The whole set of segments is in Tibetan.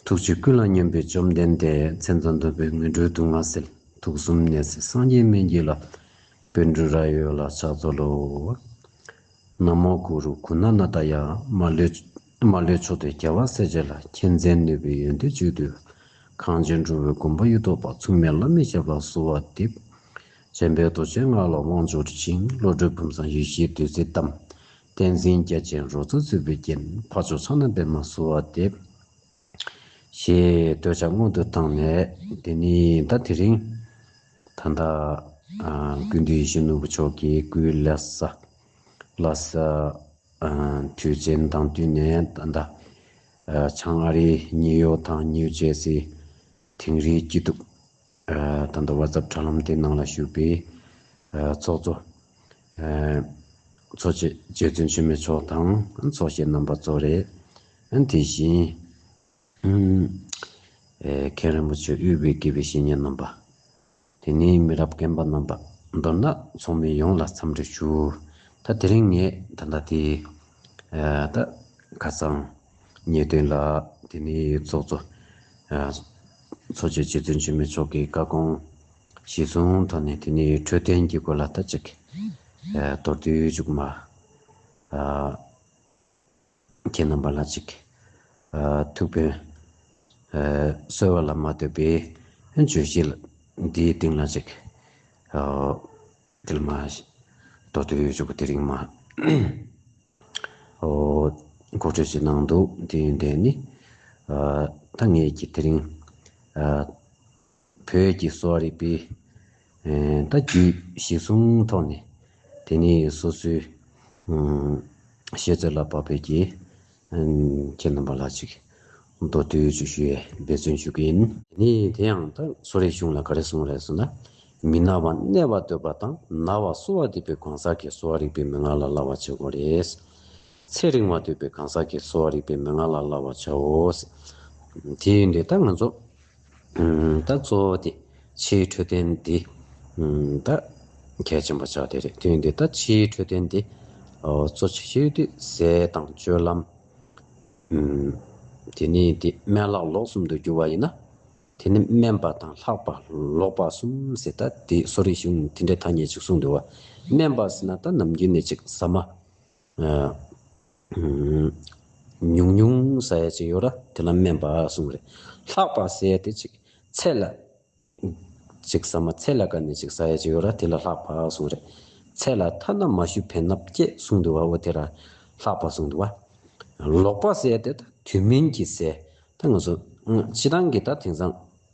ཐུགས་རྗེ་ཀུན་ལ་སྙོམས་པའི་བཅོམ་ལྡན་འདས་མཚན་དང་འདོད་པའི་མོས་འཕྲོའི་དུག་ལྔ་སེལ་དུག་གསུམ་གནས་སའི་སངས་རྒྱས་སྨན་གྱི་ལྷ། དཔལ་སྤྲུལ་རྭ་ཡོད་ལ་ཕྱག་འཚོ་ལོ། ན་མོ་གུ་རུ་གུ་ན་ན་ད་ཡ་མ་ལོས་མཆོག་ཏུ་རྒྱལ་བ་སྲས་བཅས་ལ་མཁྱེན་བརྩེ་ནུས་པའི་ཡོན་ཏན་བཅུད་དུ་གང་ཅན་འགྲོ་བའི་སྒོམ་པ་གཡུ་ཐོག་པ་མཚུངས་མེད་བླ་མེད་ཁྱབ་ལ་གསོལ་བ་འདེབས། བྱམས་པའི་རྡོ་རྗེའི་སྔགས་ལ་དབང་འབྱོར་ཅིང་བློ་གྲོས་བུམ་བཟང་ཡེ་ཤེས་བདུད་རྩིའི་གཏམས། བསྟན་འཛིན་རྒྱལ་ཆེན་རོལ་མཚོ་རྩེ་ཕུད་ཀྱིས་འཕགས་མཆོག་ཚོགས་རྣམས་པད་མ་བསུ་བ་འདེབས། ཞེས་བསྟོད་བྱ་སྔོན་དུ་བཏང་ནས་དེ་ནས་ཟླ་དེ་རིང་ད་ལྟ། དགུན་དུས་གཞོན་ནུ་བུ་མཆོག་གི་སྐུའི་ལྷ་ས། Lhasa། དུས་ཆེན་དང་བསྟུན་ནས་ད་ལྟ། བྱང་ཨ་རི་ཉིའུ་ཡོག་དང་ནིའུ་ཇེར་སི། དིང་རིའི་སྐྱིད་སྡུག། ད་ལྟ WhatsApp དྲ་ལམ་དེའི་ནང་ལ་ཞུགས་པའི་ཚོགས་གཙོ། གཙོ་བྱས་རྗེ་བཙུན་ཆེན་མོའི་མཆོག་དང་ཚོགས་བཤད་རྣམ་པ་གཙོ་རེད། དེ་བཞིན། མཁན་རིན་པོ་ཆེ་དབུས་པའི་དགེ་བའི་བཤེས་གཉེན་རྣམ་པ། དེ་ནས་མི་རབས་རྒན་པ་རྣམ་པ། མདོར་ན་ཚོགས་མི་ཡོངས་ལ་འཚམས་འདྲི་ཞུ། ད་དེ་རིང་ངས་ད་ལྟ་དེ་ད་ཁ་སང་ཉེས་དོན་ལ་དེ་ནས་ཚོགས་གཙོ། ཚོགས་ཀྱི་རྗེ་བཙུན་ཆེན་མོའི་མཆོག་གི་བཀའ་དགོངས་གཞི་བཟུང་ཐོག་ནས་དེ་ནས་འཕྲོད་བསྟེན་གྱི་སྐོར་ལ་ལྟ་ཅིག། མདོར་བསྡུས་མཇུག་མ། ཁྱེད་རྣམ་པ་ལ་ཅིག། ཐུགས་ཕན། གསོལ་བ་ལ་མ་ལྟོས་པའི་བརྗོད་གཞི་འདིའི་སྟེང་ལ་ཅིག། ཏིལ་མ། ལྟོ་ཏོའི་ཆུ་བོ་དེ་རིང་མ། འོ། མགོ་ཁྲོད་ཅིག་ནང་འདུག་དེ་ཡོན་ཏན་ནི། ད་ངེད་ཀྱིས་དེ་རིང། བོད་ཀྱི་གསོ་བ་རིག་པའི། ད་རྒྱུད་བཞི་གསུམ་ཐོག་ནས། དེ་ནི་སོ་སོའི། བཤད་ཚོད་ལ་བབ་པའི་རྒྱའི། ཁྱེད་རྣམ་པ་ལ་ཅིག་མདོ་སྟོད་ཅིག་ཞུ་ཡས་འབད་བརྩོན་ཞུ་གི་ཡིན། ནི་དེ་ཡང་ད་གཟོད་རེ་ཆུང་ལ་ག་རེ་གསུངས་རེད་ཟེར་ན། མི་ན་བ་གནས་བ་འདོད་པ་དང་ན་བ་གསོ་བ་འདོད་པའི་གང་ཟག་གིས་གསོ་བ་རིག་པའི་མན་ངག་ལ་སླ་བར་བྱེད་དགོས་རེད། ཚེ་རིང་བ་འདོད་པའི་གང་ཟག་གིས་གསོ་བ་རིག་པའི་མན་ངག་ལ་སླ་བར་བྱའོ། དེ་ཡིན་དུས་ད་ང་ཚོ། བདག་གཙོ་བོ་དེ་ཕྱིའི་འཕྲོད་བསྟེན་འདི་བདག་གལ་ཆེན་པོ་ཆགས་ཏེ་རེད་དུས་འདི་ལྟར་ཕྱིའི་འཕྲོད་བསྟེན་འདི་གཙོ་ཆེ་ཤོས་དུས་བཟས་དང་སྤྱོད་ལམ། དེ་ནས་དེ་སྨན་ལྷག་ལོག་གསུམ་དུ་འགྱུར་བ་ཡིན་ན་དེ་ནི་སྨན་པ་དང་ལྷག་པ་ལོག་པ་གསུམ་ཟེར་ད་དེ་གསོ་རིག་གཞུང་ནས་དེ་འདྲའི་ཐ་སྙད་ཅིག་གསུངས་འདུག་བ་སྨན་པ་ཟེར་ན་ད་ནམ་རྒྱུན་ནས་ཅིག་ཟ་མ། ཉུང་ཉུང་ཟ་ཡ་ཅིག་ཡོད་ར་དེ་ལ་སྨན་པ་གསུངས་རེ་ལྷག་པ་ཟས་དེ་ཅིག་ཚད་ལ་ཅིག་ཟ་མ་ཚད་ལ་ཀ་ནས་ཅིག་ཟ་ཡ་ཅིག་ཡོད་ར་དེ་ལ་ལྷག་པ་གསུངས་རེ་ཚད་ལ་ཐ་ན་མ་ཞུ་བེ་ན་བསྐྱེད་གསུངས་འདུག་བ་འོ་དེ་ར་ལྷག་པ་གསུངས་འདུག་བ། ལོག་པ་ཟས་དེ་ད་དུས་མིན་གྱི་ཟས་ད་ངོས་སོ། ཕྱི་རང་གི་ད་དེང་སང།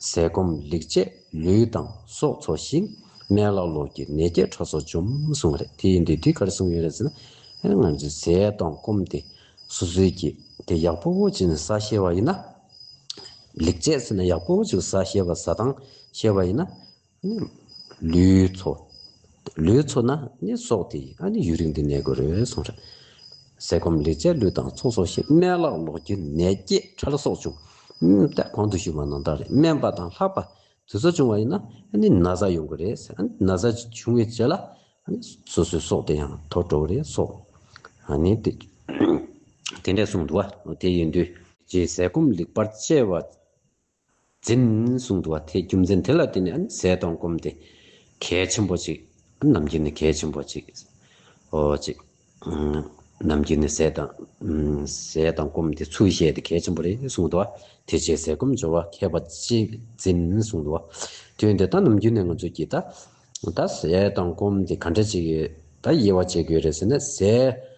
ཟས་སྐོམ་ལེགས་སྤྱད་ལུས་དང་སྲོག་འཚོ་ཞིང། སྨན་བླ་ལོག་གི་ནད་བརྒྱད་ཁྲག་སོགས་འཇོམས་གསུངས་བ་རེད་དེ་ཡིན་དུས་འདི་གར་གསུངས་ཡོད་རེད་ཟེར་ན། ང་ཚོས་ཟས་དང་སྐོམ་དེ་སོ་སོའི་གི་དེ་ཡག་པོ་བོ་བྱས་ནས་ཟ་ཤེས་བ་ཡིན་ན། ལེགས་སྤྱད་ཟེར་ན་ཡག་པོ་བོ་བྱས་ཟ་ཤེས་བ་ཟ་དང་ཤེས་བ་ཡིན་ན། ལུས་འཚོ། ལུས་འཚོ་ན་ནི་སྲོག་དེ་ཡི་ཨ་ནི་ཡུན་རིང་དུ་གནས་དགོས་རོལ་སོང་རེད། ཟས་སྐོམ་ལེགས་སྤྱད་ལུས་དང་ཚོགས་གསོག་ཤིང་སྨན་ལག་ལོག་རྒྱུ་ནད་བརྒྱད་ཕྲ་ལ་སོགས་བྱུང། ལྟད་གོང་དུ་ཞུ་བ་ནང་བདག་རེད་སྨན་པ་དང་ལྷག་པ་དུས་ཚོད་བྱུང་བ་ཡིན་ན་ཨ་ནི་ན་བཟའ་ཡོང་གི་རེད། ཨ་ནི་ན་བཟའ་བྱུང་བའི་རྗེས་ལ་ཨ་ནི་སོ་སོའི་སྲོག་དེ་ཡང་དོར་འགྲོ་གི་རེད་སོགས་ཨ་ནི་དེ་འདྲས་གསུངས་འདུག་བ་དེ་ཡིན་དུས། རྗེས་ཟས་སྐོམ་ལེགས་པར་སྤྱད་བ་འཛིན་བཟུང་དུ་བ་དེས་རྒྱུ་མཚན་དེ་ལ་བརྟེན་ནས་ཟས་གཏོང་སྐོམ་སྟེ། གལ་ཆེན་པོ་གཅིག། ནམ་རྒྱུན་ནི་གལ་ཆེན་པོ་གཅིག། ཨོ་གཅིག། ནམ་རྒྱུན་ནི་ཟས་དང། ཟས་དང་སྐོམ་སྟེ་ཚུལ་བཤད་དེ་གལ་ཆེན་པོ་རེད་བཟུང་དུ་བ་དེ་རྗེས་ཟས་སྐོམ་སྦྱོར་བ་མཁས་པ་གཅིག་འཛིན་བཟུང་དུ་བ། དོན་དེ་ལྟར་ནམ་རྒྱུན་ནས་ང་ཚོས་ཀྱིས་ད། ད་ཟས་དང་སྐོམ་སྟེ་ག་འདྲ་ཅིག་ཡོད་ད་དབྱེ་བ་འབྱེད་དགོས་རེད་ཟེར་ན་ཟས།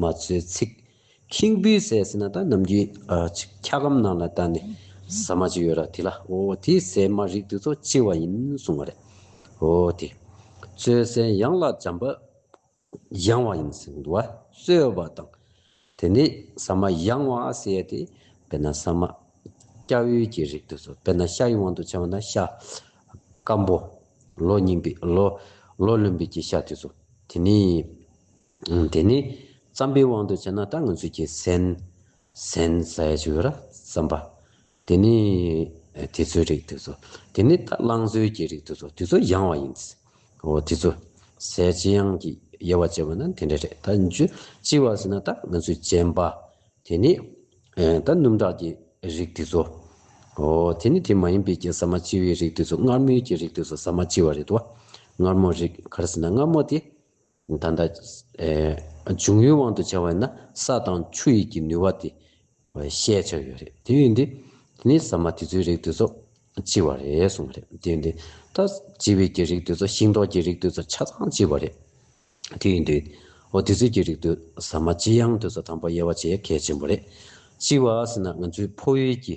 མ་ཚོའི་ཚིག། ཁེངས་པོའི་ཟས་ཟེར་ན་ད་ནམ་གྱི། འཁྱག་སྒམ་ནང་ལ་ད་ནི། ཟ་མ་ཅིག་ཡོད་ར་དེ་ལ་ཨོ་དེ་ཟས་མ་རིགས་དེ་ཚོ་ལྕི་བ་ཡིན་གསུང་བ་རེད། ཨོ་དེ། ཚོའི་ཟས་ཡང་ལ་འཇམ་པ། ཡང་བ་ཡིན་ཟེར་གི་འདུག་བ། སོལ་བ་དང། དེ་ནི་ཟ་མ་ཡང་བ་ཟེར་ཡ་དེ། དཔེར་ན་ཟ་མ། སྐྱ་བོའི་གྱི་རིགས་དེ་ཚོ་དཔེར་ན་ཤ་ཡི་དབང་དུ་བྱས་བ་ན་ཤ། སྐམ་པོ། ལོ་རྙིང་པའི་ལོ། ལོ་ལོན་པའི་གྱི་ཤ་དེ་ཚོ། དེ་ནི། དེ་ནི་བརྩམ་པའི་དབང་དུ་བྱས་ན་ད་ང་ཚོས་ཀྱི་གསན། Sense། ཞེས་བྱ་བ་ལ་བརྩམ་པ། དེ་ནི་དེ་ཚོའི་རིགས་དེ་ཚོ། དེ་ནི་ད་བླང་ཚོའི་ཀྱི་རིགས་དེ་ཚོ་དེ་ཚོ་ཡང་བ་ཡིན། འོ་དེ་ཚོ། གསལ་བྱེད་ཡང་གི་དབྱེ་བ་འབྱེད་པ་ན་དེ་འདྲ་རེད། ད་འཇུ་ཅི་བ་ཟེར་ན་ད་ང་ཚོས་བྱན་པ། དེ་ནི། ད་སྣུམ་དག་ཀྱི་རིགས་དེ་ཚོ། འོ་དེ་ནི་དེ་མ་ཡིན་པའི་ཀྱི་ཟ་མ་ཅི་བའི་རིགས་དེ་ཚོ་མངར་མོའི་ཀྱི་རིགས་དེ་ཚོ་ཟ་མ་ཅི་བ་རེད་དོ། མངར་མོ་རིགས་ག་རེ་ཟེར་ན་མངར་མོ་དེ། ད་ལྟ། འབྱུང་ཡུལ་དབང་དུ་བྱ་བས་ན་ས་དང་ཆུ་ཡི་གི་ནུས་བ་དེ། བཤད་བྱར་ཡོད་རེད་དེ་ཡོད་དེ། དེ་ནི་ཟ་མ་དེ་ཚོའི་རིགས་དེ་ཚོ། ལྕི་བ་རེད་གསུངས་པ་རེད་དེ་ཡོད་དེ། ད། ལྕི་བའི་གི་རིགས་དེ་ཚོ་ཤིང་ཏོག་གི་རིགས་དེ་ཚོ་ཆ་ཚང་ལྕི་བ་རེད། དེ་ཡོད་དེ། འོ་དེ་ཚོའི་གི་རིགས་དུ་ཟ་མ་ལྕི་ཡང་དེ་ཚོ་དང་པོ་དབྱེ་བ་བྱེད་གལ་ཆེན་པོ་རེད། ལྕི་བ་ཟེར་ན་ང་ཚོའི་ཕོ་ཡུལ་གྱི།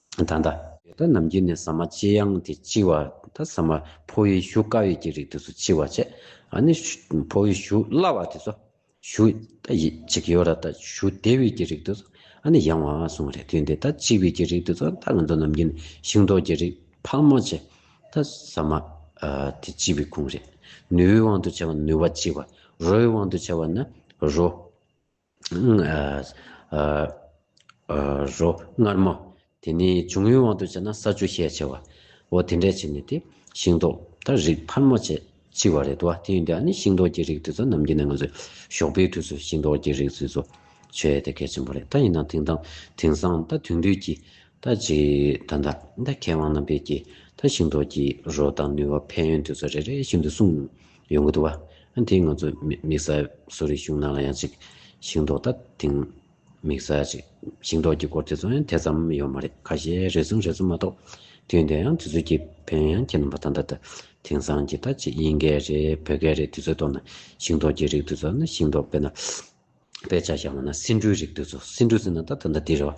ད་ལྟ། ད་ལྟ་ནམ་རྒྱུན་ནས་ཟ་མ་ལྕི་ཡང་དེ་ལྕི་བ། ད་ཟ་མ་ཕོ་བའི་ཞུ་དཀའ་བའི་ཀྱི་རིགས་དེ་ཚོ་ལྕི་བ་བྱས། ཨ་ནི། ཕོ་བའི་ཞུ་སླ་བ་དེ་ཚོ། ཞུ། ད་ཡི། ཅིག་ཡོད་ར་ད་ཞུ་བདེ་བའི་ཀྱི་རིགས་དེ་ཚོ། ཨ་ནི་ཡང། སོང་རེད་དུས་འདི་ད་ལྕི་བའི་ཀྱི་རིགས་དེ་ཚོ་ད་ང་ཚོ་ནམ་རྒྱུན་ཤིང་ཏོག་ཀྱི་རིགས་ཕག་མོ་བྱས། ད་ཟ་མ། དེ་ལྕི་བའི་ཁུངས་རེད། ནུའི་དབང་དུ་བྱས་པ་ནུ་བ་ལྕི་བ། རོའི་དབང་དུ་བྱས་པ་ནི་རོ། རོ། མངར་མོ། དེ་ནི་འབྱུང་ཡུལ་དབང་དུ་བྱས་ན་ས་ཆུ་ཤས་ཆེ་བ། འོ་དེ་འདྲས་བྱས་ནས་ཏེ་ཤིང་ཏོག་དང་རིགས་འཕར་མོ་བཅས་ལྕི་བ་རེད་དོ། དེ་ཡིན་དུས་ཨ་ནི་ཤིང་ཏོག་གི་རིགས་དེ་ཚོ་ནམ་གྱི་ནས་ང་ཚོས་ཞོགས་པའི་དུས་སུ་ཤིང་ཏོག་གི་རིགས་དེ་ཚོ་ཆོས་ཡས་དེ་གལ་ཆེན་པོ་རེད་ད་ཡིན་ན་དེང་དང་དེང་སང་ད་དུས་དུས་ཀྱི་ད་ཅི་ད་ད་ད་མཁས་དབང་རྣམ་པས་ཀྱིས་ད་ཤིང་ཏོག་གི་རོ་དང་ནུས་བ་ཕན་ཡོན་དེ་ཚོ་རེ་རེ་བཞིན་དུ་གསུངས། ཡོང་གི་འདུག་བ། ཨ་དེ་ང་ཚོ་དམིགས་བསལ་གསོ་རིག་གཞུང་ནང་ལ་ཡང་ཅིག་ཞིང་འབྲོག་ད་དེང་དམིགས་བསལ་ཅིག་ཞིང་འབྲོག་གི་སྐོར་དེ་ཚོ་ཡང་དེ་ཙམ་ཡོད་མ་རེད་ཁ་ཤས་རེ་ཟུང་རེ་ཟུང་མ་གཏོགས་དུས་འདི་ཡང་དུས་ཚོད་ཀྱི་བོན་ཡང་ཁྱེད་རྣམ་པ་ད་ད་ད་དེང་སང་གི་ད་ཅིག་དབྱིན་སྐད་རེད་བོད་སྐད་རེད་དུས་ཚོད་གཏོགས་ན་ཞིང་འབྲོག་གི་རིགས་དུས་ཚོད་ན་ཞིང་འབྲོག་དཔེ་ན་དཔེ་ཆ་བཞག་མ་ན་སེ་འབྲུའི་རིགས་དུས་ཚོད་སེ་འབྲུ་ཟེར་ན་ད་ད་ད་འདི་རེད་བ།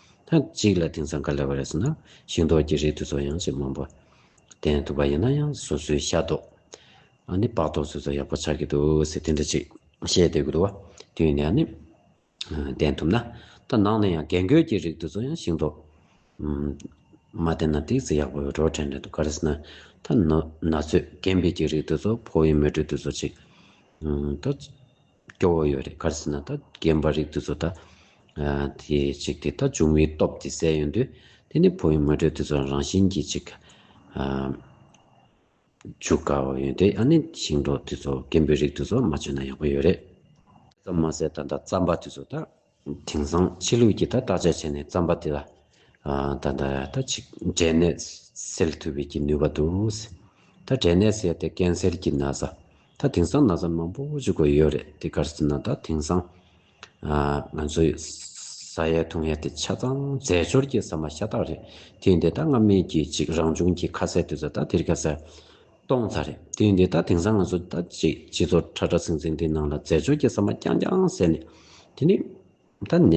ཐེངས་གཅིག་ལ་དེང་སང་ག་ལེ་བ་རེད་ཟེར་ན་ཤིང་ཏོག་གི་རིགས་དེ་ཚོ་ཡང་ཅི་མང་པོ་བསྟེན་ཐུབ་པ་ཡིན་ན་ཡང་སོ་སོའི་ཤ་ཏོག་ཨ་ནི་པགས་ཏོག་ཚོད་ཚོད་ཡག་པོ་ཆགས་ཀྱི་འདུག་ཟེར་དེ་འདྲ་ཅིག་བཤད་སྡོད་ཀྱི་འདུག་བ་དུས་ནས་ཨ་ནི་བསྟེན་ཐུབ་ན་ད་ནང་ནས་ཡང་རྒན་རྒོན་གྱི་རིགས་དེ་ཚོ་ཡང་ཤིང་ཏོག་མ་བསྟེན་ན་དེ་ཟེར་ཡག་པོ་འགྲོ་དྲན་རེད་འདུག་ག་རེ་ཟེར་ན་ད་ན་ཚོད་རྒན་བེད་ཀྱི་རིགས་དེ་ཚོ་ཕོ་བའི་མོ་ཕྲུག་དེ་ཚོ་ཅིག་ད། སྐྱོ་བོ་ཡོད་རེད་ག་རེ་ཟེར་ན་ད་རྒན་པ་རིགས་དེ་ཚོ་ད་དེ་ཅིག་དེ་ད་འབྱུང་བའི་སྟོབས་དེ་གསལ་ཡོད་དུས་དེ་ནས་བོད་ཡུལ་མི་གྲོས་དེ་ཚོ་རང་བཞིན་གྱིས་ཅིག་འཇུག་དཀའ་བ་ཡོད་དེ་ཨ་ནི་ཞིང་འབྲོག་དེ་ཚོ་རྒན་པོའི་རིགས་དེ་ཚོ་མ་བྱོན་ན་ཡག་པོ་ཡོད་རེད། དེ་ཙམ་མ་ཟད་ད་ད་རྩམ་པ་དེ་ཚོ་ད། དེང་སང་ཕྱི་ལུགས་ཀྱིས་ད་བརྟག་དཔྱད་བྱས་ནས་བརྩམས་པ་དེ་ལ། ད་ལྟ་ད་ཅིག་འབྲས་ནད་སེལ་ཐུབ་པའི་ཀྱི་ནུས་པ་འདུག། ད་འབྲས་ནད་སེལ་ཏེ་ཀན་སེལ་གྱི་ན་བཟའ། ད་དེང་སང་ན་བཟའ་མང་པོ་བཅུག་དགོས་ཡོད་རེད་དེ་གར་སེ་ན་ད་དེང་སང། ང་ཚོའི་ས་ཡའི་ཐུང་ཡ་དེ་ཆ་ཚང་རྫས་སྦྱོར་གྱི་ཟ་མ་ཤ་སྟག་རེད་དེ་འདི་ད་སྔ་མེད་ཀྱི་ཅིག་རང་བྱུང་གྱི་ཁ་ཟས་དུད་ཟ་ད་དེར་ཁ་ཟས། གཏོང་ཚར་རེད་དུས་འདི་ད་དེང་སང་ང་ཚོ་ད་ཅིག་སྤྱི་ཚོགས་ཁྲ་ཁྲ་ཟིང་ཟིང་འདི་ནང་ལ་རྫས་སྦྱོར་གྱི་ཟ་མ་རྐྱང་རྐྱང་ཟས་ནས་དེ་ནས་ད་ནད་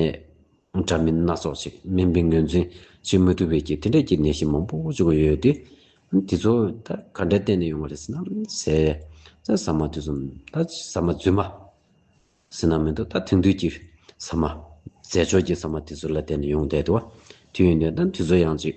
འདྲ་མིན་སྣ་ཚོགས་ཤིག་སྨན་པས་ངོས་འཛིན་བྱེད་མ་ཐུབ་བས་ཀྱི་དེ་འདྲ་གྱི་ནད་གཞི་མང་པོ་བཅུག་གི་ཡོད་དེ། དེ་ཚོ་ད་ག་འདྲ་བསྟེན་ནས་ཡོང་བ་རེད་ཟེར་ན་ཟས་ཟས་ཟ་མ་དེ་ཚོ་ད་ཟ་མ་རྫུན་མ་ཟེར་ན་མི་འདུག་ད་དེང་དུས་ཀྱི་ཟ་མ་རྫས་སྦྱོར་གྱི་ཟ་མ་དེ་ཚོ་ལ་བསྟེན་ནས་ཡོང་བསྡད་དུ་བ་དུས་ཡིན་དུས་ད་དེ་ཚོ་ཡང་ཅིག་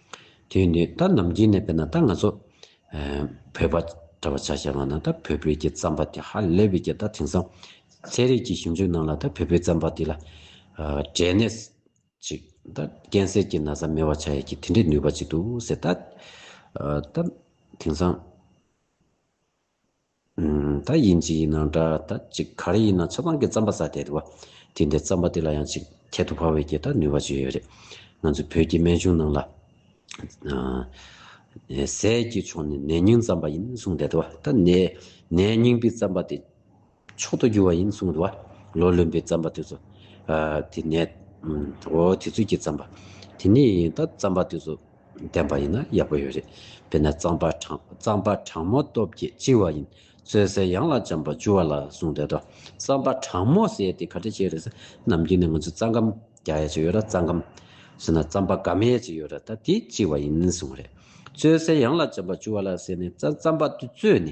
དེ་ནི་ད་ནམ་རྒྱུན་ནས་བལྟས་ན་ད་ང་ཚོ་བོད་པ་འདྲ་བ་ཆ་བྱས་པ་ན་ད་བོད་པོའི་ཀྱི་རྩམ་པ་དེ་ཧ་ལས་པའི་ཀྱི་ད་དེང་སང་ཚད་རིགས་ཀྱི་ཞིབ་འཇུག་ནང་ལ་ད་བོད་པོའི་རྩམ་པ་དེ་ལ་འབྲས་ནད་ཅིག་ད་རྐྱེན་སེལ་གྱི་ན་བཟའ་མེད་བ་ཆ་ཡ་ཀྱི་དེ་འདྲའི་ནུས་པ་ཅིག་འདུག་ཟེར་ད་དེང་སང། ད་ཡིན་གཅིག་ཡིན་ན་འདྲ་ད་ཅིག་ག་རེ་ཡིན་ན་མཚོ་སྒང་གི་རྩམ་པ་ཟ་དད་བ། དེ་འདྲའི་རྩམ་པ་དེ་ལ་ཡང་ཅིག་ཁྱད་དུ་འཕགས་བའི་སྐྱེས་ད་ནུས་བ་བཅོལ་ཡོད་རེད། ང་ཚོའི་བོད་ཀྱི་སྨན་གཞུང་ནང་ལ། ཟས་ཀྱི་ཕྱོགས་ནས་ནད་རྙིང་རྩམ་པ་ཡིན་གསུངས་དད་བ། ད་ནད་རྙིང་པའི་རྩམ་པ་དེ། མཆོག་ཏུ་འགྱུར་བ་ཡིན་གསུངས་འདུག་བ། ལོ་ལོན་པའི་རྩམ་པ་དེ་ཚོ། དེ་ནས། འོ་དེ་ཚོད་ཀྱི་རྩམ་པ། དེ་ནས་ཡིན་ད་རྩམ་པ་དེ་ཚོ། བསྟན་པ་ཡིན་ན་ཡག་པོ་ཡོད་རེད། དེ་ནས་རྩམ་པ་གྲང། རྩམ་པ་གྲང་མོ་སྟོབས་ཀྱིས་བཅིང་བ་ཡིན། བཙོས་སའི་གཡང་ལ་འཇམ་པ་བཅུ་བ་ལ་གསུངས་འདུག་དོ། རྩམ་པ་གྲང་མོ་ཟས་དེ་ག་འདྲ་བྱས་རེད་ས། ནམ་རྒྱུན་ནས་ང་ཚོས་རྩ་འགམ། རྒྱག་ཡ་ཅིག་ཡོད་ར་རྩ་འགམ། ཟོས་ན་རྩམ་པ་དགའ་མེད་ཅིག་ཡོད་ར་ད་དེ་བཅིང་བ་ཡིན་གསུངས་རེད། བཙོས་སའི་གཡང་ལ་འཇམ་པ་བཅུ་བ་ལ་ཟས་ནས་རྩ་རྩམ་པ་དེ་བཙོས་ནས།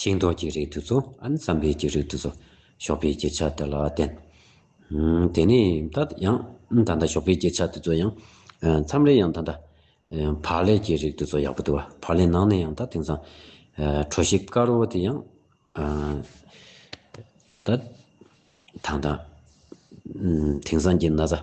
ཤིང་ཏོག་གི་རིགས་དུ་ཚོ་ཨན་ཙམ་བེ་གྱི་རིགས་དུ་ཚོ་ཞོགས་པའི་སྐྱེ་ཆ་དེ་ལ་བརྟེན། དེ་ནས་ད་ཡང་ད་ལྟ་ཞོགས་པའི་སྐྱེ་ཆ་དེ་ཚོ་ཡང་མཚམས་རེ་ཡང་ད་ལྟ་བག་ལེབ་ཀྱི་རིགས་དུ་ཚོ་ཡག་པོ་འདུག་བག་ལེབ་ནང་ནས་ཡང་ད་དེང་སང་གྲོ་ཞིབ་དཀར་བོ་དེ་ཡང་ད་ད་དེང་སང་གྱི་ན་བཟའ།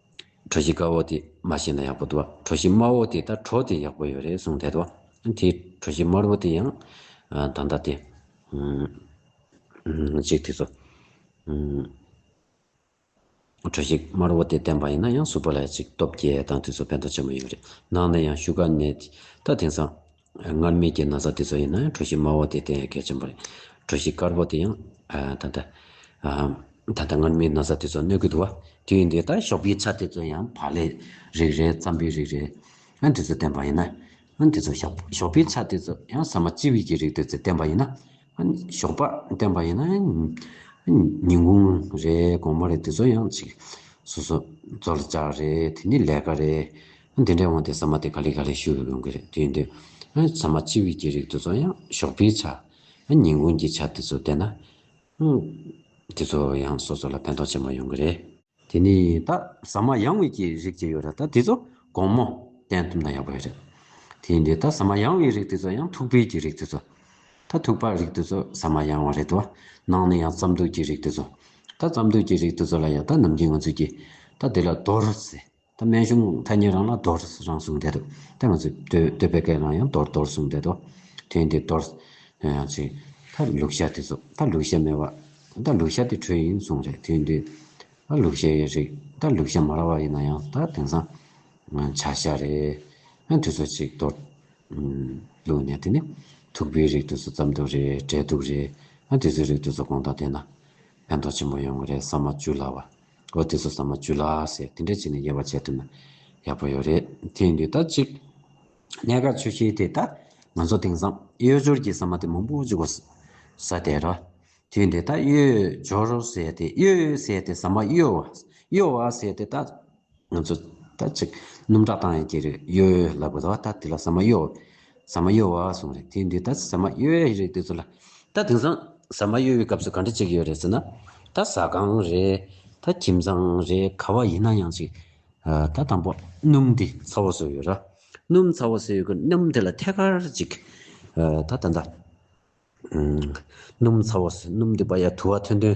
གྲོ་བཞིན་དཀར་བོ་དེ་མ་བྱས་ན་ཡག་པོ་འདུག་གྲོ་བཞིན་དམར་བོ་དེ་ལྟར་གྲོ་དེ་ཡག་པོ་ཡོད་རེད་གསུངས་བསྡད་འདུག་དེའི་གྲོ་བཞིན་དམར་བོ་དེ་ཡང་ད་ལྟ་དེ་གཅིག་དེ་ཚོ་གྲོ་བཞིན་དམར་བོ་དེ་བསྟན་པ་ཡིན་ན་ཡང་གཟུགས་པོ་ལ་ཡང་གཅིག་སྟོབས་རྒྱས་དང་དེ་ཚོ་ཕན་ཐོགས་ཆེན་པོ་ཡོད་རེད་ནང་ནས་ཡང་བཞུགས་སྒར་ནས་ད་དེང་སང། སྔར་མེད་ཀྱི་ན་བཟའ་དེ་ཚོ་ཡིན་ན་གྲུ་བཞི་དམའ་བོ་དེ་དེ་ཡང་གལ་ཆེན་པོ་རེད། གྲུ་བཞི་དཀར་པོ་དེ་ཡང། ད་ལྟ། ད་ལྟ་སྔར་མེད་ན་བཟའ་དེ་ཚོ་གནོད་ཀྱི་འདུག་བ། དེ་ཡིན་དུས་ད་ཞོགས་པའི་ཚ་དེ་ཚོ་ཡང་བག་ལེབ་རིགས་རེད་རྩམ་པའི་རིགས་རེད། དེ་ཚོ་བསྟན་པ་ཡིན་ན། དེ་ཚོ་ཞོགས་པའི་ཚ་དེ་ཚོ་ཡང་ཟ་མ་ལྕི་བས་ཀྱི་རིགས་དེ་ཚོ་བསྟན་པ་ཡིན་ན། ཞོགས་པ་བསྟན་པ་ཡིན་ན། ཉིན་གུང་རེད་དགོང་མོ་རེད་དེ་ཚོ་ཡང་ཚིག་སོ་སོ་རྩོལ་བཅག་རེད་དེ་ནི་ལས་ཀ་རེད། ཨ་འདི་འདྲའི་དབང་དེ་ཟ་མ་དེ་ག་ལེ་ག་ལེ་ཞུ་ཡོང་གི་རེད་དུས་འདི་ཨ་ཟ་མ་སྤྱི་བོད་ཀྱི་རིགས་དེ་ཚོ་ཡང་ཞོགས་པའི་ཆ་ཨ་ཉིན་གུང་གྱི་ཆ་དེ་ཚོ་བསྡད་ན་ཨ་དེ་ཚོ་ཡང་སོ་སོ་ལ་ཕན་ཐོགས་ཆེན་པོ་ཡོང་གི་རེད། དེ་ནས་ད་ཟ་མ་ཡང་བའི་ཀྱི་རིགས་ཀྱི་ཡོད་རེད་ད་དེ་ཚོ་དགོང་མོ་བསྟན་ཐུབ་ན་ཡག་པོ་ཡོད་རེད། དེ་འདི་ད་ཟ་མ་ཡང་བའི་རིགས་དེ་ཚོ་ཡང་ཐུག་པའི་ཀྱི་རིགས་དེ་ཚོ་ད་ཐུག་པ་རིགས་དེ་ཚོ་ཟ་མ་ཡང་བ་རེད་དོ་ནང་ནས་ཡང་རྩམ་དུག་ཀྱི་རིགས་དེ་ཚོ་ད་རྩམ་དུག་ཀྱི་རིགས་དེ་ཚོ་ལ་ཡང་ད་ནམ་རྒྱུན་ང་ཚོས་ཀྱི་ད་དེ་ལ་རྡོར་ཟེར་ད་སྨན་གཞུང་ཐ་སྙད་རང་ལ་རྡོར་རང་གསུངས་བསྡད་འདུག་ད་ང་ཚོས་ཟློས་པའི་སྐད་ལ་ཡང་རྡོར་རྡོར་གསུངས་བསྡད་དོ། དོན་དེ་རྡོར། དོན་ཡང་ཚིག། ད་ལུག་ཤ་དེ་ཚོ། ད་ལུག་ཤ་མེད་པ། ད་ལུག་ཤ་དེ་དྲོད་ཡིན་གསུངས་རེད་དོན་དུ། ད་ལུག་ཤ་ཡི་རིགས། ད་ལུག་ཤ་མ་ར་བ་ཡིན་ན་ཡང་ད་དེང་སང། བྱ་ཤ་རེད། ཡང་དུས་ཚོད་ཅིག་རྡོར། ལུག་ནས་དེ་ནི། ཐུག་པའི་རིགས་དུས་ཚོད་ཙམ་འདུག་རེད་བྲེལ་འདུག་རེད། ཡང་དུས་ཚོད་རིགས་དུས་ཚོད་གོང་དང་ལྡན་ན། ཕན་ཐོགས་ཆེན་པོ་ཡོང་གི་རེད་ས་མ་བཅུ་ལ་བ། ལོ་དེ་ཚོ་ཟ་མ་བཅུ་ལ་ཟེར་དེ་འདྲ་བྱས་ནས་དབྱེ་བ་འབྱེད་ཐུབ་ན་ཡག་པོ་ཡོད་རེད་དེ་འདུག་ད་ཅིག་གནད་འགག་ཆོས་ཤེས་དེ་ད་ང་ཚོ་དེང་སང་གཡོས་སྦྱོར་གྱི་ཟ་མ་དེ་མང་པོ་འཇུག་པ་ཟ་དེ་ར་དེ་འདུག་ད་གཡོས་སྦྱོར་ཟེར་དེ་གཡོས་ཟེར་དེ་ཟ་མ་གཡོ་བ་གཡོ་བ་ཟེར་དེ་ད། ང་ཚོ་ད་ཅིག་སྣུམ་ཁྲག་བཏང་ཡང་སྐྱེ་རེ་གཡོ་ལ་བུ་དོ་ད་དེ་ལ་ཟ་མ་གཡོ་ཟ་མ་གཡོ་བ་སོང་རེ་དེ་འདི་ད་ཟ་མ་གཡོ་ཡ་རེད་དེ་ཚོ་ལ་ད་དེང་སང་ཟ་མ་གཡོ་བའི་སྐབས་སུ་ག་འདྲ་ཅིག་ཡོད་རེད་ཟེར་ན་ད་ཟ་ཁང་རེ་ད་ཁྱིམ་ཚང་རེ་ག་བ་ཡིན་ན་ཡང་ཅིག་ད་དང་པོ་སྣུམ་དེ་ཚ་བོ་ཟོས་ཡོད་ར་སྣུམ་ཚ་བོ་ཟོས་ཡོད་ཀི་སྣུམ་དེ་ལ་ཐད་ཀར་ཅིག་ད་ད་ད་སྣུམ་ཚ་བོ་སྣུམ་དེ་པ་ཡ་དུ་བ་ཐོན་ཐོན་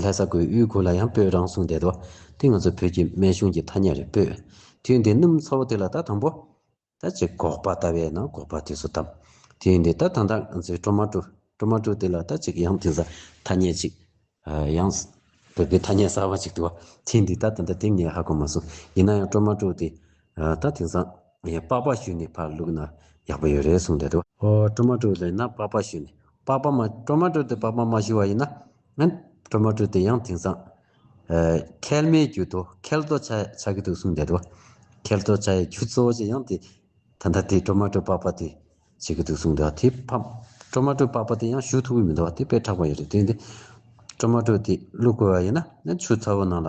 ལྷ་ས་ཁུལ་དབུས་ཁུལ་ལ་ཡང་སྤོས་རང་སྲུང་བསྡད་དོ། དེ་ང་ཚོ་བོད་ཀྱི་སྨན་གཞུང་གི་ཐ་སྙད་རེད་སྤོས། དུས་འདི་སྣུམ་ཚ་བོ་དེ་ལ་ད་དང་པོ། ད་ཅིག་འགོག་པ་ལྟ་བས་ན་འགོག་པ་དུས་སུ་བཏབ། དུས་འདི་ད་ད་ད་ང་ཚོའི་སྤྲོ་མ་སྤྲོ། སྤྲོ་མ་སྤྲོ་དེ་ལ་ད་ཅིག་ཡང་དེ་ས་ཐ་སྙད་ཅིག། ཡང། བོད་པའི་ཐ་སྙད་གསར་བ་ཅིག་འདུག་བ། དུས་འདི་ད་ད་ད་དེ་ངས་ཧ་གོ་མ་སོང། ཡིན་ན་ཡང་སྤྲོ་མ་སྤྲོ་དེ། ད་དེང་སང། ངས་པགས་པ་བཤུས་ནས་ཕར་བླུགས་ན་ཡག་པོ་ཡོད་རེད་གསུངས་བསྡད་འདུག་ཨོ་ཀྲོ་མ་ཀྲོ་ལེན་ན་པགས་པ་བཤུས་ནས་པགས་པ་མ་ཀྲོ་མ་ཀྲོ་དེ་པགས་པ་མ་བཤུས་བ་ཡིན་ན་ཀྲོ་མ་ཀྲོ་དེ་ཡང་དེང་སང་ཁལ་མའི་རྒྱུ་དོ་ཁལ་དོ་ཆ་ཆགས་ཀྱི་འདུག་གསུངས་བསྡད་འདུག་ཁལ་དོ་ཆ་ཡི་རྒྱུ་གཙོ་བོ་ཆེ་ཡང་དེ་ད་ལྟ་དེ་ཀྲོ་མ་ཀྲོ་པགས་པ་དེ་བྱེད་ཀྱི་འདུག་གསུངས་འདུག་དེ་ཀྲོ་མ་ཀྲོ་པགས་པ་དེ་ཡང་བཤུས་ཐུབ་ཀྱི་མི་འདུག་དེ་དཔེ་དྲག་པ་ཡོད་རེད་དེ་ཀྲོ་མ་ཀྲོ་དེ་བླུགས་དགོས་བ་ཡིན་ན་ཆུ་ཚ་བོ་ནང་ལ།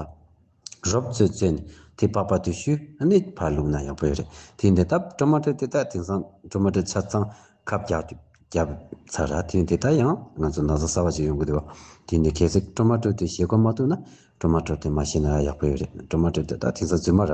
རོབ་ཚོད་ཚོད་ནས་དེ་པགས་པ་དུ་ཤུ་གནས་བར་ལུགས་ན་ཡག་པོ་ཡོད་རེད་དེ་འདི་ལྟ་བཀྲ་མ་དྲོ་དེ་དག་དེང་སང་བཀྲ་མ་དྲོ་ཆ་ཚང་ཁ་བརྒྱབ་ཚར་ར་དེ་འདི་དག་ཡང་ང་ཚོ་ན་བཟའ་གསར་བ་ཞིག་ཡོང་གི་འདུག་དེ་འདི་གལ་སྲིད་བཀྲ་མ་དྲོ་དེ་ཞེ་དགོ་མ་ཐུག་ན་བཀྲ་མ་དྲོ་དེ་མ་ཤེས་ན་ར་ཡག་པོ་ཡོད་རེད་བཀྲ་མ་དྲོ་དེ་དག་དེང་སང་རྫུན་མ་ར་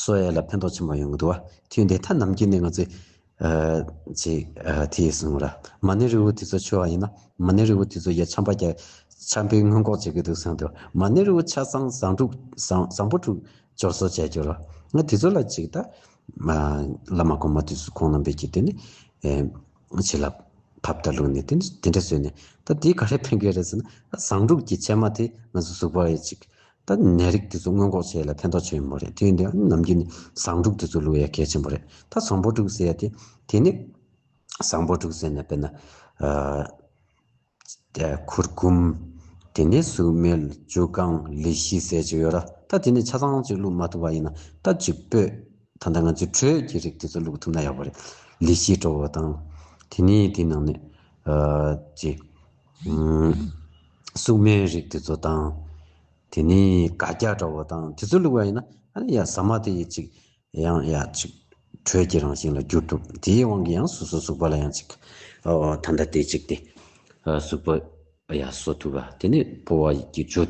སོ་ཡས་ལ་ཕན་ཐོགས་ཆེན་པོ་ཡོང་གི་འདུག་བ། ཁྱོད་འདི་ཐ་ནམ་གྱི་ནི་ང་ཚོས། ཅིག། དེ་ཡིས་གསུངས་ར། མ་ཎི་རི་བོ་དེ་ཚོ་འཆོལ་བ་ཡིན་ན། མ་ཎི་རི་བོ་དེ་ཚོ་ཡ་ཆམ་པ་རྒྱ། ཆམ་པའི་སྔོན་འགོག་བྱེད་ཀྱི་འདུག་གསུངས་འདུག་མ་ཎི་རི་བོ་ཆ་ཚང་བཟང་དྲུག། བཟང་པོ་དྲུག། སྦྱོར་བཟོ་བྱས་གྱུར་བ། ང་དེ་ཚོ་ལ་ཅིག་ལྟ། བླ་མ་གོང་མ་དེ་ཚོ་ཁོང་རྣམ་པས་ཀྱིས་དེ་ནི། བྱི་ལ། ཕབ་ལྟ་བླུགས་ནས་དེ་ནི་དེ་འདྲ་བཟོས་ནས། ད་དེ་ག་རེ་ཕན་གྱི་རེད་ཟེར་ན། བཟང་དྲུག་གི་ཕྱེ་མ་དེ་ང་ཚོ་གཟུགས་པོ་ཡི་ཅིག། ད་ནད་རིགས་དེ་ཚོ་སྔོན་འགོག་བྱེད་ཡ་ལ་ཕན་ཐོགས་ཆེན་པོ་རེད་དེ་ཡོན་ཏན་ནམ་རྒྱུན་བཟང་དྲུག་དེ་ཚོ་ལུས་ཡ་གལ་ཆེན་པོ་རེད་ད་བཟང་པོ་དྲུག་ཟེར་ཡ་དེ་དེ་ནི་བཟང་པོ་དྲུག་ཟེར་ནས་དཔེར་ན་གུར་གུམ། དེ་ནས་ཟུག་སྨེལ་ཇུ་རྐང་ལི་ཤི་ཟེར་ཅིག་ཡོད་ར་ད་དེ་ནི་ཆ་ཚང་ཅིག་བླུགས་མ་ཐུབ་པ་ཡིན་ན་ད་ཅིག་སྤོས་ད་ལྟ་ང་ཚོའི་དྲོད་ཀྱི་རིགས་དེ་ཚོ་བླུགས་ཐུབ་ན་ཡག་པོ་རེད་ལི་ཤི་དྲོ་བོ་དང་དེ་ནས་དེའི་ནང་ནས་ཅི། སྲུང་མའི་རིགས་དེ་ཚོ་དང། དེ་ནི་དགའ་སྐྱ་འདྲ་བོ་དང་དེ་ཚོ་བླུགས་པ་ཡིན་ན་ཨ་ནི་ཡང་ཟ་མ་དེ་ཡི་ཅིག་ཡང་ཡ་ཅིག་དྲོད་ཀྱི་རང་བཞིན་ལ་འགྱུར་ཐུབ་དེའི་དབང་གིས་ཡང་སོ་སོ་ཟུག་པ་ལ་ཡང་ཅིག་ད་ལྟ་དེ་ཅིག་སྟེ། ཟུག་པ་ཡ་གསོ་ཐུབ་པ་དེ་ནི་ཕོ་བ་ཡི་གི་འཇོ་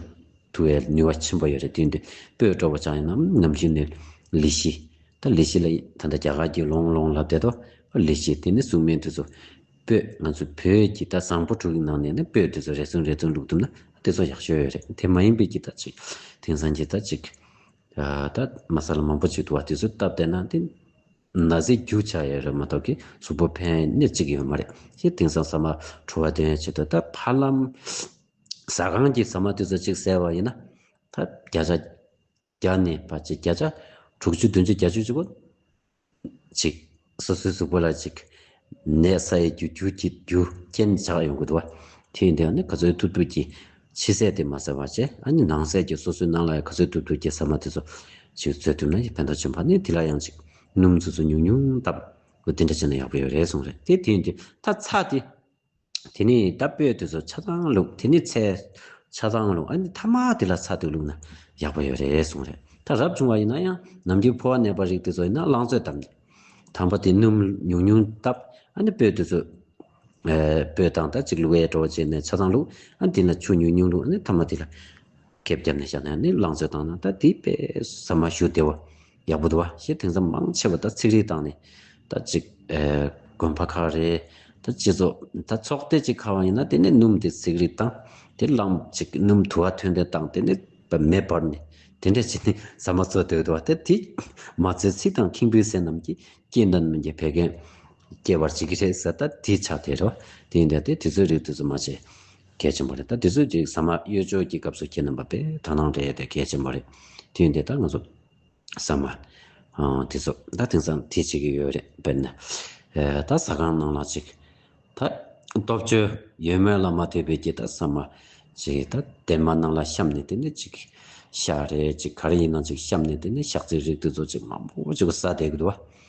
ཐུ་བའི་ནུས་བ་ཆེན་པོ་ཡོད་རེད་དེ་འདི་སྤོས་འགྲོ་བ་ཅག་ཡིན་ནམ་ནམ་ཞིག་ནི་ལི་ཤི་ད་ལི་ཤི་ལ་ད་ད་རྒྱ་གར་གྱི་ལོང་ལོང་ལབ་བསྡད་དོ་ཨ་ལི་ཤི་དེ་ནི་སྲུང་མའི་དེ་ཚོ་སྤོས་ང་ཚོ་བོད་ཀྱི་རྟ་བཟང་པོ་དྲུག་གི་ནང་ནས་ནི་སྤོས་དེ་ཚོ་རེ་ཟུང་རེ་ཟུང་བླུགས་ཐུབ་ན་དེ་ཚོ་ཡག་ཤོས་རེད་དེ་མ་ཡིན་པའི་གྱི་རྟ་ཅིག་དེང་སང་གྱི་རྟ་ཅིག་ད་མ་ས་ལ་མང་པོ་ཅིག་འདུག་བ་དེ་ཚོ་སྟབས་བདེ་ན་དེ་ན་ཟས་རྒྱུག་ཆགས་ཡས་རེད་མ་གཏོགས་གི་གཟུགས་པོ་ཕན་ནི་ཅིག་ཡོད་མ་རེད་ཤེས་དེང་སང་ཟ་མ་བྲོ་བ་དོན་བྱེད་དོ་ད་ཕ་ལམ་ཟ་ཁང་གྱི་ཟ་མ་དེ་ཚོ་ཅིག་ཟས་བ་ཡིན་ན་ད་བརྒྱ་ཆ། བརྒྱ་ནས་བར་གྱི་བརྒྱ་བྱ། དྲུག་ཅུ་བདུན་ཅུ་བརྒྱ་བཅུ་བཅུ་པོ། ཅིག། སོ་སོའི་གཟུགས་པོ་ལ་ཅིག། ནས་ས་ཡི་རྒྱུ་རྒྱུ་ཀྱི་རྒྱུ་རྐྱེན་བྱ་ཡོང་གི་འདུག་བ། དེ་ཡིན་དུས་ནི་ག་ཚོད་ཐུབ་ཐུབ་ཀྱིས་ཕྱི་གསལ་དེ་མ་ཟེར་བར་བྱས་ཨ་ནི་ནང་གསལ་གྱིས་སོ་སོའི་སྣང་ལ་ཡང་ག་ཚོད་ཐུབ་ཐུབ་ཀྱིས་ཟ་མ་དེ་ཚོ་ཅིག་རྩོལ་ཐུབ་ན་ཡི་ཕན་ཐོགས་ཆེན་པ་ནི་དེ་ལ་ཡང་ཅིག་སྣུམ་ཆུ་ཚོད་ཉུང་ཉུང་བཏབ་འོ་དེ་འདྲ་བྱས་ན་ཡག་པོ་ཡོད་རེད་གསུངས་རེད་དེ་དེ་ཡིན་དུས་ད་ཚ་དེ། དེ་ནས་རྟ་སྤོས་དེ་ཚོ་ཆ་ཚང་བླུགས་དེ་ནས་ཚལ། ཆ་ཚང་བླུགས་ཨ་ནི་ཐ་མ་དེ་ལ་ཚ་དུས་བླུགས་ན་ཡག་པོ་ཡོད་རེད་གསུངས་རེད་ད་རབ་བྱུང་བ་ཡིན་ན་ཡང་ནམ་རྒྱུན་ཕོ་བ་ནད་པ་རིགས་དེ་ཚོ་ཡིན་ན་རླངས་བཙོས་བཏབ་ནས་དམ་པ་དེ་སྣུམ་ཉུང་ཉུང་བཏབ་ཨ་ནི་སྤོས་དེ་ཚོ། སྤོས་དང་ད་ཅིག་བླུགས་ཨེ་བྲོ་བྱས་ནས་ཆ་ཚང་བླུགས་ཨ་ནི་དེ་ལ་ཆུ་ཉུང་ཉུང་བླུགས་ཨ་ནི་ཐ་མ་དེ་ལ། ཁེབས་བརྒྱབ་ནས་བཞག་ནས་ཨ་ནི་རླངས་བཙོས་བཏང་ན་ད་དེའི་དཔེ་ཟ་མ་ཞུ་བདེ་བ། ཡག་པོ་འདུག་བ་ཞེས་དེང་སང་མང་ཆེ་བ་ད་ཚིག་རིགས་བཏང་ནས་ད་ཅིག་དགོན་པ་ཁག་རེད་ད་སྤྱི་ཚོགས་ད་ཚོགས་སྡེ་ཅིག་ཁག་ཡིན་ན་དེ་ནས་སྣུམ་དེ་ཚིག་རིགས་བཏང་དེ་བླངས་ཅིག་སྣུམ་དུ་བ་ཐོན་དེ་བཏང་དེ་ནས་མེ་སྦར་ནས་དེ་འདྲས་བྱས་ནས་ཟ་མ་ཚོ་སྡོད་འདུག་བ་ད་དེ་མ་ཚོའི་ཚིག་དང་ཁེངས་པོའི་ཟས་རྣམས་ཀྱིས་སྐྱེས་འདི་རྣམས་ཀྱི་བད་ཀན་སྐྱེ་བར་བྱེད་ཀྱི་རེད་ཟེར་ད་དེ་ཆགས་དེ་རེད་བ་དེ་ཡིན་དེ་དེ་ཚོའི་རིགས་དེ་ཚོ་མ་བྱེད་གལ་ཆེན་པོ་རེད་ད་དེ་ཚོའི་རིགས་ཟ་མ་གཡོས་སྦྱོར་གྱི་སྐབས་སུ་ཁྱེད་རྣམས་པ་པས་དག་སྣང་རེད་དེ་གལ་ཆེན་པོ་རེད་དེ་ཡིན་དེ་ད་ང་ཚོ། ས་མ། དེ་ཚོ་ད་དེང་སང་དེ་བྱེད་ཀྱི་ཡོད་རེད་དཔེར་ན། ད་ཟ་ཁང་ནང་ལ་ཅིག་ད་སྟོབས་བཅུ་ཡོད་མོད་ལ་མ་ཐོས་པའི་རྒྱུ་ད་ས་མ། ཅིག་ད་དེབ་མ་ནང་ལ་བཤམས་ནས་དེ་ནས་ཅིག་ཤག་རེ་ཅིག་ག་རེ་ཡིན་ནང་ཅིག་བཤམས་ནས་དེ་ནས་ཤག་ཚིག་རིག་དུས་ཚོ་ཅིག་མང་པོ་ཅིག་ཟ་བསྡད་གི་འདུག་བ།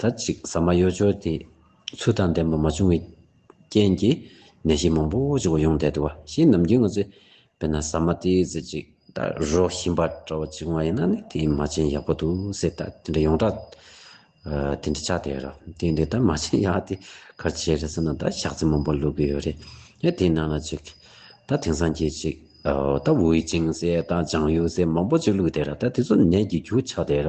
ད་ཅིག་ཟ་མ་གཡོ་སྦྱོར་དེ་ཚུལ་དང་ལྡན་པ་མ་བྱུང་བའི་རྐྱེན་གྱིས་ནད་གཞི་མང་པོ་ཅིག་འོང་བསྡད་འདུག་བ་ཞེས་ནམ་རྒྱུན་ང་ཚོས་དཔེར་ན་ཟ་མ་དེའི་རྫས་གཅིག་དང་རོ་ཞིམ་པ་འདྲ་བ་ཅིག་འོང་བ་ཡིན་ན་ནི་དེའི་མ་བྱན་ཡག་པོ་འདུག་ཟེར་ད་དེ་འདྲ་ཡོངས་གྲགས་དེ་འདྲ་ཆགས་བསྡད་རོ་དེ་འདྲའི་ད་མ་བྱན་ཡག་དེ་ག་བྱེད་རེད་ཟེར་ན་ད་ཞག་རྩི་མང་པོ་བླུག་གི་ཡོད་རེད་ཡ་དེའི་ནང་ལ་ཅིག་ད་དེང་སང་གྱི་ཅིག་ད་ཝུའུ་ཅིང་ཟེར་དང་ལྗང་གཡུ་ཟེར་མང་པོ་ཅིག་བླུག་བསྡད་ར་ད་དེ་ཚོ་ནད་ཀྱི་རྒྱུ་ཆགས་བསྡད་ར་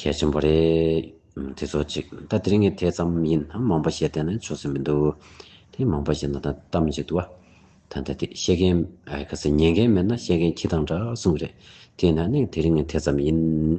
གལ་ཆེན་པོ་རེད། དེ་ཚོ་གཅིག་ད་དེ་རིང་གི་དེ་ཙམ་ཡིན་ནམ་མང་པོ་བཤད་བསྡད་ན་ཆོག་ས་མི་འདུག་དེ་མང་པོ་བཤད་ན་ད་གཏམ་གཅིག་འདུག་བ། ད་ད་དེ་བཤད་མཁན་ཨ་ག་ཚེ་ཉན་མཁན་མེད་ན་བཤད་མཁན་ཁྱི་དང་འདྲ་གསུང་གི་རེད། དེ་ན་ནིང་དེ་རིང་གི་དེ་ཙམ་ཡིན།